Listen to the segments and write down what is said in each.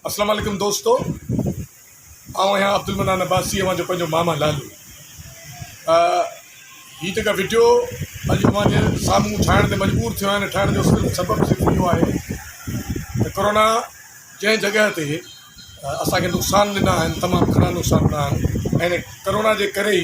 اسلام عليڪم دوستو آئون آهيان عبدالمنان عباسي اوهان جو پنهنجو ماما لالو هي جيڪا وڊيو اڄ اوهان جي سامهون ٺاهڻ تي مجبور ٿيو آهيان ٺاهڻ جو صرف سبب صرف اهو آهي ته ڪورونا جنهن جڳهه تي اسان کي نقصان ڏنا آهن تمام گهڻا نقصان ڏنا آهن ڪرونا جي ڪري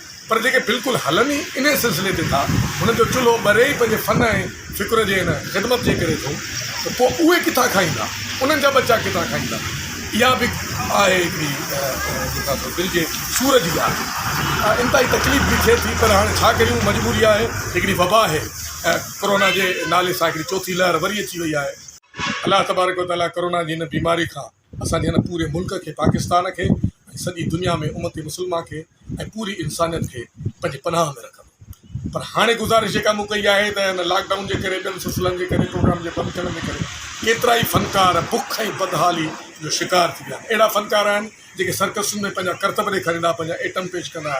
پر جيڪي بلڪل هلن ئي انهيء سلسلي تي ٿا، انهن جو چلهو ٻري ئي پنهنجي فن ۽ فڪر جي ان خدمت جي ڪري ٿو ته پوء اهي ڪٿان کائيندا، انهن جا ٻچا ڪٿان کائيندا؟ اها به آهي هڪڙي جيڪا سو دل جي سور جي ڳالهه ۽ انتهائي تڪليف به ٿئي ٿي پر هاڻي ڇا ڪريون مجبوري آهي، هڪڙي وبا آهي ۽ ڪورونا جي نالي سان هڪڙي چوٿين لهر وري اچي وئي آهي. الله تبارڪ و تعاليٰ ڪورونا جي هن بيماري کان اسان جي هن پوري ملڪ کي پاڪستان کي ۽ سڄي دنيا ۾ امت مسلمه کي ۽ پوري انسانيت کي پنهنجي پناهه ۾ رکندو پر هاڻي گذارش جيڪا مون ڪئي آهي ته هن لاڪ ڊائون جي ڪري ٻين سلسلن جي ڪري پروگرام جي بند ٿيڻ جي ڪري ڪيترا ئي فنڪار بک ۽ بدحالي جو شڪار ٿي ويا آهن اهڙا فنڪار آهن جيڪي سرڪسن ۾ پنهنجا ڪرتب ڏيکاريندا پنهنجا ايٽم پيش ڪندا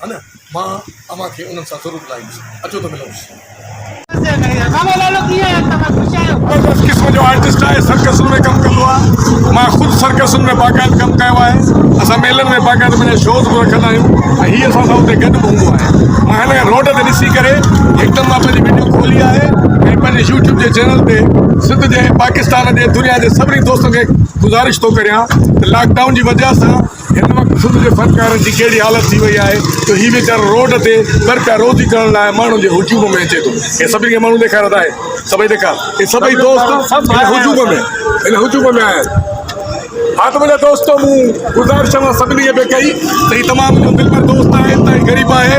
ها نه مان اوهان کي انهن سان ضرور ملائيندس اچو ته ملون. زبردست قسم جو آرٽسٽ آهي سرڪسن ۾ ڪم ڪندو آهي مان خود سرڪسن ۾ باقاعد ڪم ڪيو آهي اسان ميلن ۾ باقاعد پنهنجا شوز به رکندا آهيون ۽ هي اسان سان اتي گڏ به هوندو آهي مان هن کي روڊ تي ڏسي ڪري هڪدم مان پنهنجي وڊيو کولي آهي ۽ پنهنجي يوٽيوب جي چينل تي سنڌ جي پاڪستان جي دنيا جي سڀني دوستن کي گذارش ٿو ڪريان ته لاڪ ڊائون جي وجه سان هن وقت سنڌ جي فنڪارن جي ڪهڙي حالت ٿي وئي آهي جو هي ويچارو روڊ تي ٻرپيا روزي ڪرڻ لاء ماڻهن جي هجوم ۾ اچي ٿو هي سڀني کي ماڻهو ڏيکار ادا هي سڀئي ڏيکار هي سڀئي دوست هن هجوم ۾ هن هجوم ۾ آهن ها ته منهنجا دوستو مون گذارش اوهان سڀني کي به ڪئي ته هي تمام جو دلبر دوست آهي انتهائي غريب آهي